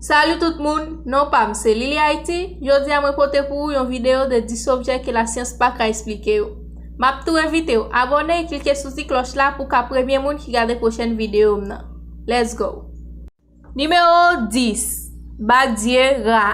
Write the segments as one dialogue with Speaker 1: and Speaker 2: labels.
Speaker 1: Salut tout moun, non pam se Lily Haïti, jodi a mwen pote pou ou yon video de 10 objè ke la syans pa ka esplike yo. Map tou envitew abòne e klike sou ti klòch la pou ka premye moun ki gade pwochèn videom nan. Let's go! Nimewo 10, Badye Ra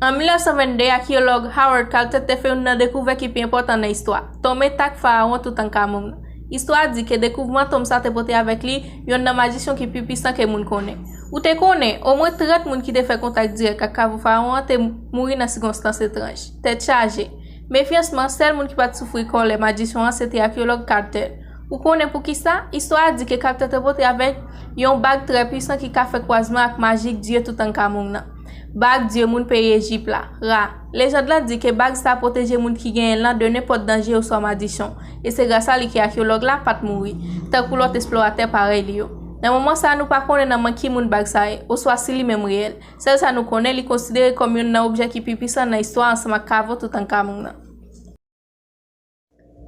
Speaker 1: An 1922 akiyològ Howard Carter te fè youn nan dekouvè ki pi enpòtan nan istwa, tonm entak farawon Toutankamoun. Istwa di ke dekouvman tonm sa te pote avèk li youn nan majisyon ki pi pisan ke moun konnen. Ou te konnen, omwen 30 moun ki te fè kontak dirèk ak kavo Fawon an te mouri nan sikonstans etranj. Tèt chaje! Mefyansman, sèl moun ki pa t soufri kòlè majisyon an se te akeyològ Carter. Ou konnen poukisa? Istwa a di ke Carter te pote avèk yon bag trè puisan ki ka fè kwazman ak majik dye Toutankamong nan, bag dye moun peyi Ejip la, Ra. Lejand la di ke bag sa pwoteje moun ki genyen l lan de nenpòt danje oswa madichon, e se grasa li ke akyològ la pa t mouri, tankou lòt esploratè parèy li yo. Nan moman sa a nou pa konnen nan men ki moun bag sa ye, oswa si li menm reyèl. Sèl sa nou konnen, li konsidere kòm youn nan objè ki pi pwisan nan istwa ansanm ak kavo Toutankamng nan.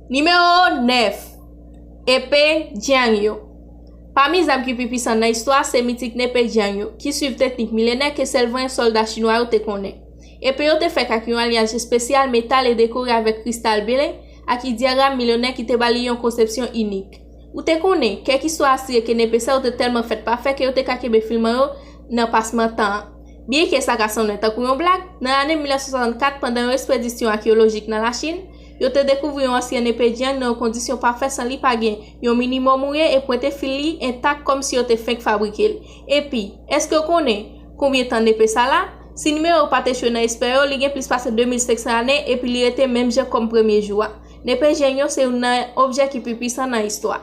Speaker 1: Nimewo 9, Epe Jiang yo Pami zam ki pi pisan nan istwa a, se mitik nepe Jiang yo, ki suiv teknik milenè ke sèl vanyan sòlda Chinwa yo te konnen. Epe yo te fèt ak yon alyaj espesyal metal e dekore avèk kristal ble ak idyagram milenè ki te ba li yon konsepsyon inik. Ou te konnen, kèk istwa asire ke nepe sa yo te tèlman fèt pafè ke yo te ka kenbe filman yo nan pasman tan an. Byenke sa ka sanblen tankou yon blag, nan ane 1964, pandan yon espedisyon akeyolojik nan Lachin, Yo te dekouvri yon ansyen nepe dyang nan yon kondisyon pafè san li pa gen yon minimòm mouye e pwente fil li entak kòmsi yo te fenk fabrike l. Epi, èske w konnen konbyen tan nepe sa la? Si nimewo yo pa t echwe nan espè yo, li gen plis pase 2500 ane epi li rete menm jan kòm premye jou a. Nepe dyang yo se youn nan objè ki pi pwisan nan istwa.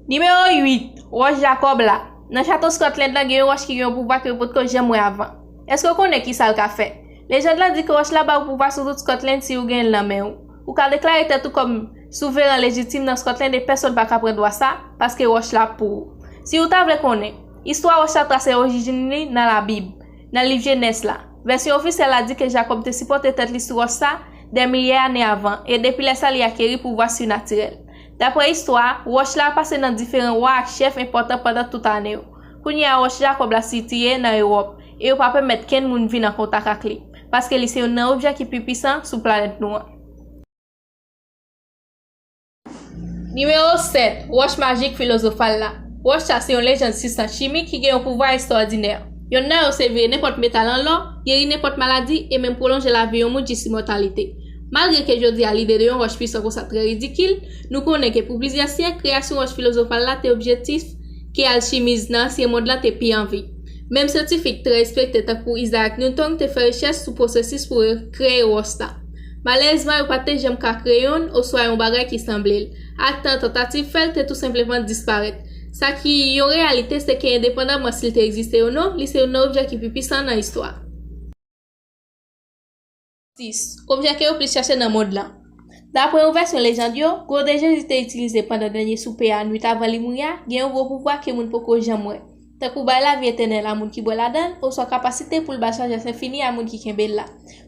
Speaker 1: Nimewo 8, Wòch Jakòb la Nan chato Scotland lan gen yon wòch ki gen yon pouvwa ke yo potko janm wè avan. Èske w konnen kisa l ka fè? Lejand lan di ke wòch la ba ou pouvwa sou tout Scotland si ou genyen l nan men ou. Ou ka deklare tèt ou kòm souveran lejitim nan Scotland e pèsonn pa ka pran dwa sa, paske wòch la ap pou ou. Si ou ta vle konnen, istwa wòch la trase orijin li nan Labib, nan liv Jenès la. Vèsyon ofisyèl la di ke Jakòb te sipòte tèt li sou wòch sa dè milye ane avan, e depi lè sa li akeri pouvwa surnatirèl. Dapre istwa, wòch la pase nan diferan wa ak chèf enpòtan pandan tout ane yo. Kounye a wòch Jakòb la sitiye nan Ewòp, e yo pa pèmèt kenn moun vin an kontak ak li, paske li se youn nan objè ki pi pisan sou planèt nou an. Nimewo 7, Wòch majik filozofal la Wòch sa se yon lejand sibstans chimik ki gen yon pouvwa estwòdinè. Yonn nan yo se veye nenpòt metal an lò, geri nenpòt maladi, e menm pwolonje lavi yon moun jis imòtalite. Malgre ke jodi a lide de yon wòch pwisan konsa trè ridikil, nou konnen ke pou plizyè syèk, kreyasyon wòch filozofal la te objektif ke alchimiz nan ansyen mond la te pi anvi. Menm syantifik trè respekte tankou Isaac Newton te fè rechèch sou pwosesis pou yo kreye wòch la. Malerezman yo pa te janm ka kreye youn oswa yon bagay ki sanble l, ak tan tantativ fè l te tou senpleman disparèt. Sa ki yon reyalite se ke endepandaman si l te egziste ou non, li se youn nan objè ki pi pwisan nan istwa. 6, Objè ke yo plis chache nan mond lan. Dapre yon vèsyon lejand yo, gwo de Jezi te itilize pandan dènye soupe a nwit avan li mouri a gen yon gwo pouvwa ke moun poko janm wè, tankou bay lavi etènèl a moun ki bwè ladan l oswa kapasite pou l bay sajès enfini a moun ki kenbe l la.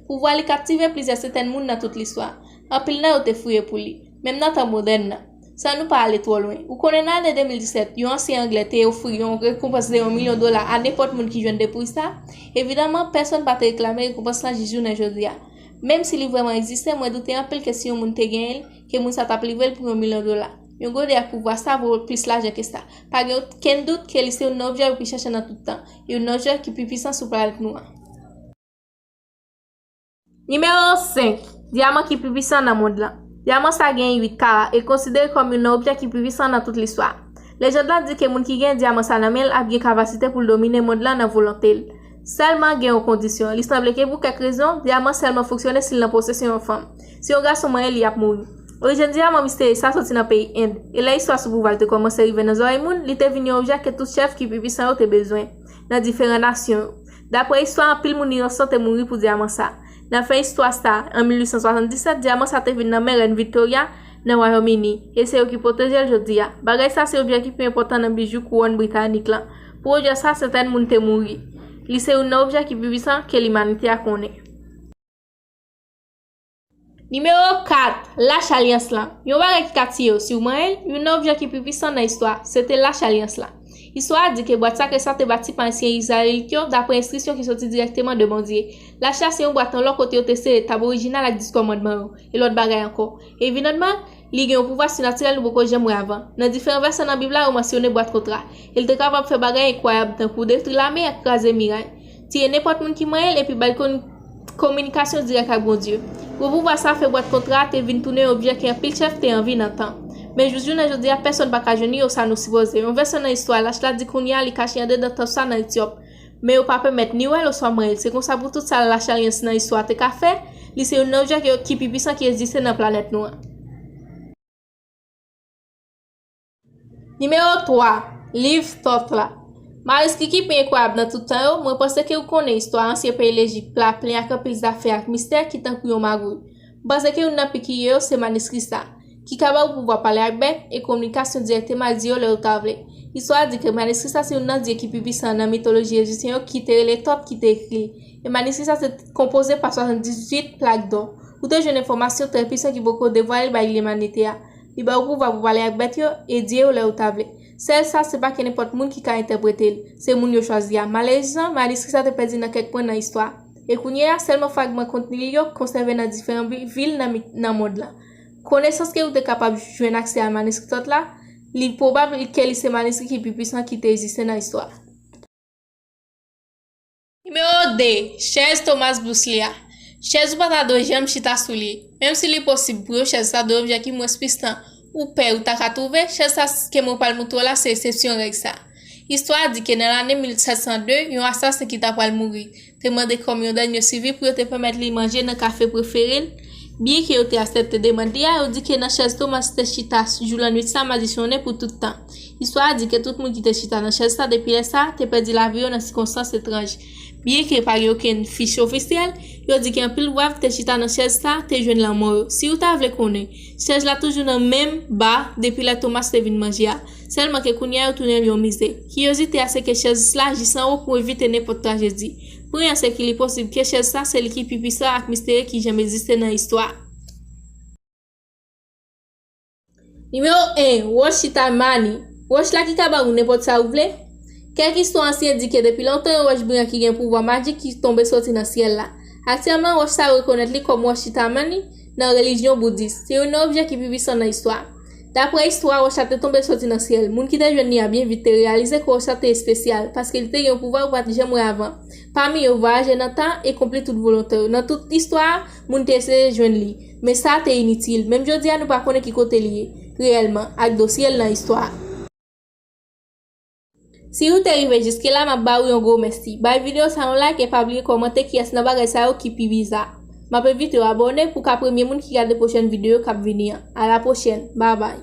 Speaker 1: Pouvwa li kaptive plizyè sentèn moun nan tout listwa. Anpil nan yo te fouye pou li, menm nan tan modèn nan. San nou pa ale twò lwen, ou konnen nan ane 2017, yon ansyen Anglè te ofri yon rekonpans de yon milyon dola a nenpòt moun ki jwenn depouy sa, evidaman, pèsonn pa te reklame rekonpans lan jis jounen jodi a. Menm si li vrèman egziste, mwen doute anpil ke si yon moun te genyen l, ke moun sa t ap livre l pou yon milyon dola. Yon gode ak pouvwa sa vo plis lajan ke sa. Pa gen okenn dout ke li se youn nan objè yo pi chèche nan tout tan, youn nan objè ki pi pwisan sou planèt nou an. Nimewo 5, Dyaman ki pi pisan nan mond lan. Dyaman sa genyen 8 kara e konsidere kòm youn nan objè ki pi pisan nan tout listwa. Lejand lan di ke moun ki genyen dyaman sa nan men l ap gen kapasite pou l domine mond lan nan volonte l. Sèlman gen yon kondisyon, li sanble ke pou kèk rezon, dyaman sèlman fonksyone si l nan posesyon yon fanm. Si yon gason manyen li ap mouri. Orijin dyaman misterye sa soti nan peyi End, e lè istwa sou pouvwa l te kòmanse rive nan zòrèy moun, li te vin yon objè ke tout chèf ki pi pisan yo te bezwen, nan diferan nasyon yo. Daprè istwa anpil moun inosan te mouri pou dyaman sa. Nan fen istwa sa, an 1877, dyaman sa te vin nan men Rèn Victoria, nan Wayòm Ini, e se yo ki pwoteje l jodi a. Bagay sa se objè ki pi enpòtan nan bijou kouwòn britanik lan. Pou objè sa, sentèn moun te mouri. Li se youn nan objè ki pi pisan ke limanite a konnen. Nimewo 4, Lach alyans la Yon bagay ki ka tiye yo si w manyen l Youn nan objè ki pi pisan nan istwa a se te Lach alyans la. Istwa a di ke bwat sakre sa a te bati pa ansyen Izrayelit yo dapre enstriksyon ki soti dirèkteman de Bondye. Lach la se yon bwat an lò kote yo te sere tab orijinal ak Dis Kòmandman yo, e lòt bagay ankò. Evidantman, li gen yon pouvwa sinatirèl nou poko janm wè avan. Nan diferan vèsè nan Bib la yo mansyone bwat kontra, e l te kapab fè bagay enkwayab tankou detri lame ak kraze miray. Tiye nenpòt moun ki manyen l epi ba l kon kominikasyon dirèk ak Bondye. Gwo pouvwa sa a fè bwat kontra a te vin tounen yon objè ke anpil chèf te anvi nan tan. Men jous jounen jodi a pèsonn pa ka jwenn li osa nou sipoze. Yon vèsè nan istwa lach la di kounye a li kache andedan tanp sa nan Etyòp. Men yo pa pèmèt ni wè l oswa manyen l. Se konsa pou tout sa lach alyans nan istwa te ka fè, li se youn nan objè ki pi pisan ki eziste nan planèt nou an. Nimewo 3, Liv Thoth la Manuskri ki pi enkwayab nan tout tan yo Mwen panse ke ou konnen istwa ansyen peyi Lejip la plen ak anpil zafè ak mistè ki tankou yon magouy. M panse ke youn nan pi kirye yo se maniskri sa a, ki ka ba ou pouvwa pale ak bèt e kominikasyon dirèkteman ak dye yo lè ou ta vle. Istwa a di ke maniskri sa se youn nan dye ki pi pisan nan mitoloji ejipsyen yo ki te rele Thoth ki te ekri li, e maniskri sa te konpoze pa 78 plak dò. Ou te jwenn enfòmasyon trè pisan ki poko devwale bay limanite a. Li ba ou pouvwa pou pale ak bèt yo, e dye yo lè ou ta vle. Sèl sa, se pa kenenpòt moun ki ka entèprete l, se moun yo chwazi a. Malerezman, maniskri sa te pèdi nan kèk pwen nan istwa a, e kounye a, sèlman fragman kontni li yo konsève nan diferan vil nan mit nan mond lan. Konesans ke ou te kapab jwenn aksè a maniskri Tòt la, li pwobab ke li se maniskri ki pi pwisan ki te egziste nan istwa. Nimewo 2, Chèz Thomas Bousley a. Chèz ou pa ta dwe janm chita sou li. Menm si li posib pou yo chèz la dwe objè ki mwens pwisan ou pè ou ta ka twouve, chèz sa ke mwen pral moutre w la se esepsyon règ sa. Istwa a di ke nan lane 1702, yon asasen ki ta pral mouri, te mande kòm yon dènye sivi pou yo te pèmèt li manje nan kafe prefere l. Byenke yo te asepte demand li a, yo di ke nan chèz Thomas te chita jou lannwit sa madisyone pou tout tan. Istwa a di ke tout moun ki te chita nan chèz sa depi lè sa a te pèdi lavi yo nan sikonstans etranj. Byenke pa gen okenn fich ofisyèl, yo di ke anpil wav ki te chita nan chèz sa a te jwenn lanmò yo. Si ou ta vle konnen, chèz la toujou nan menm ba depi lè Thomas te vin manje a, sèlman ke kounye a yo tounen l yon mize. Kiyozite a se ke chèz s la jis anwo pou evite nenpòt trajedi. Pwen an se ke li posib ke chèz sa se li ki pi pwisan ak misterye ki janm egziste nan istwa. Nimewo 1, Wòch chita Mani, Wòch la ki ka ba ou nenpòt sa ou vle. Kèk istwa ansyen di ke depi lontan yon wòch briyan ki gen pouvwa majik ki tonbe soti nan syèl la. Aktyèlman, wòch sa yo rekonèt li kòm wòch chita Mani nan relijyon boudis. Se youn nan objè ki pi pisan nan istwa. Dapre istwa, wòch la te tonbe soti nan syèl. Moun ki te jwenn li a byen vit te reyalize ke wòch la te espesyal, paske li te gen yon pouvwa yo pa t janm wè avan, pami yo vwayaje nan tan e konpli tout volonte yo. Nan tout istwa a, moun te eseye jwenn li. Men sa te initil. Menm jodi a nou pa konnen ki kote li ye, reyèlman, ak dosye l nan istwa a. Si ou te rive jiske la map ba ou yon gwo mèsi. Bay videyo sa yon like e pa bliye kòmante kiyès nan bagay sa yo ki pi biza. Map envite w abòne pou w ka premye moun ki gade pwochèn videyo kap vini an. A la pwochèn. Bye bye.